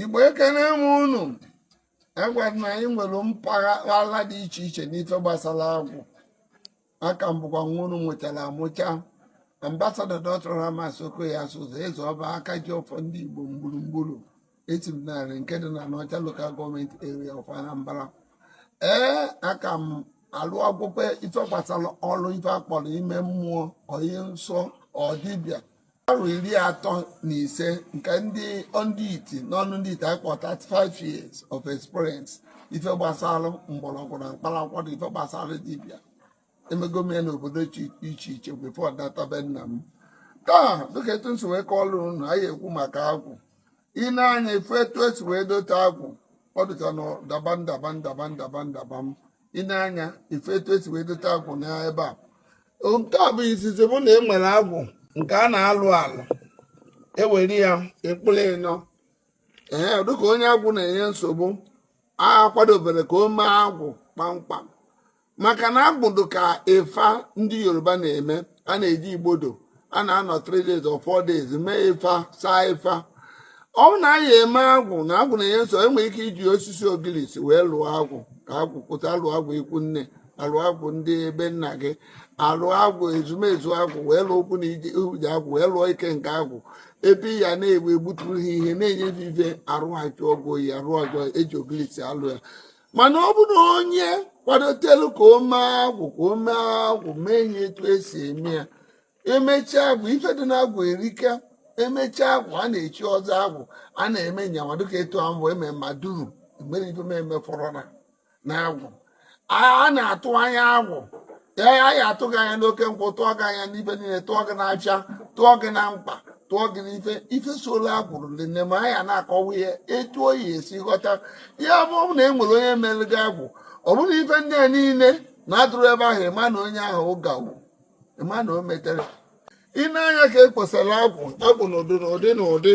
igbo ekene m unu agwa na anyị nwere mpaghara dị iche iche n'ife gbasara agwụ a ka m bụkwa nwa unu mụchara amụcha ambasada dọkta Ramas Okoye Asuzu eze ọba aka ji ọfọ ndị igbo gburugburu esi m Nri nke dị na Anaocha local government area of Anambra ee aka m alụ akwụkwọ ife gbasara ọrụ ife akpọrọ ime mmụọ onye nsọ or dibịa arọ iri atọ na ise nke ndị ndị iti n'ọnụ ndị iti akpọ 35 years of experience ife gbasara mgbọrọgwụ na mkpa akwụkwọ na ife gbasara dibịa emego m ya n'obodo iche iche iche before nata be nna m taa dịka etu m si wee kọọlụ unu anyị ekwu maka agwụ i nee anya ị fụ etu esi wee dote agwụ ọ dịka na ndaba ndaba ndaba ndaba ndaba m i nee anya ị fụ etu esi wee dote agwụ n'ebe a nke a bụ izizi bụ na enwere agwụ nke a na-alụ alụ ewere ya ekpụrụ ịnọ ee dịka onye agwụ na-enye nsogbu akwadobero ka o mee agwụ kpamkpam maka na agwụ dị ka Ifa ndị yoruba na-eme a na-eje Igbodu a na-anọ 3 days or 4 days mee ifa saa ifa ọ bụ na anyị eme agwụ na agwụ na-enye nsọ enwere ike iji osisi ogilisi wee lụọ agwụ ka agwụ pụta alụọ agwụ ikwu nne alụọ agwụ ndị ebe nna gị alụọ agwụ ezumezu agwụ wee lụọ ụkwụ na ije uje agwụ wee lụọ ikenga agwụ ebe ya na-egbu egbuturu ha ihe na-enye ha ife arụ ha chụọ ọgwụ oyi arụ ọjọọ eji ogilisi alụ ya mana ọ bụrụ onye kwadotelu ka o mee agwụ ka o mee agwụ mee nya etu esi eme ya emechaa agwụ ife dị na agwụ erika emechaa agwụ a na-echi ọzọ agwụ a na-eme nya nwa dịka etu ahụ wee mee ma duru mere ife na agwụ a na-atụ anya agwụ ee anyị atụ gị anya n'oke nkwụ tụọ gị anya n'ife niile tụọ gị n'afịa tụọ gị na mkpa tụọ gị n'ife ife sola agwụ niine ma anyị na-akọwa ihe etu unu ya-esi ghọta ya ọ bụrụ na e nwere onye mere gị agwụ ọ bụrụ na ife ndị a niile na-adịrọ ebe ahụ ịma na onye ahụ ụgawu ịma na o metero i nee anya ka e kposara agwụ agwụ n'ụdị n'ụdị n'ụdị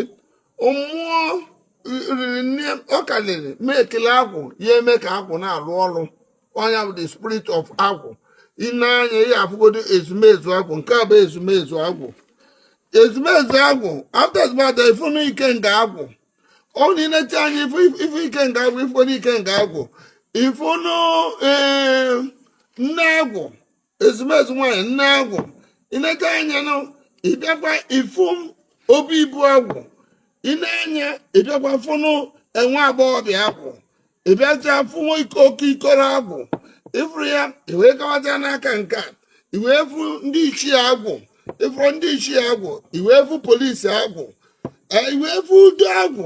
mmụọ riri nne ọ karịrị ma ekele agwụ ya eme ka agwụ na-arụ ọrụ ọ nya bụ the spirit of agwụ i nee anya ị fụgodu ezumezu agwụ nke a bụ ezumezu agwụ ezumezu agwụ after ezumezu ị fụ nụ ikenga agwụ ọ na i nechaa anya ị fụ ị fụ ikenga agwụ ị fụgodu ikenga agwụ ị fụ nụ ee nne agwụ ezumezu nwaanyị nne agwụ ị neta anya na ị bịakwa ịfụ obi ibu agwụ ị nee anya ị bịakwa fụnụ nwa agbọghọbịa agwụ ị bịacha fụ nwa ike oke ikoro agwụ ị fụrụ ya i wee gawazia n'aka nke a i wee fụ ndị ichie agwụ ị fụrụ ndị ichie agwụ i wee fụ polisi agwụ i wee fụ udo agwụ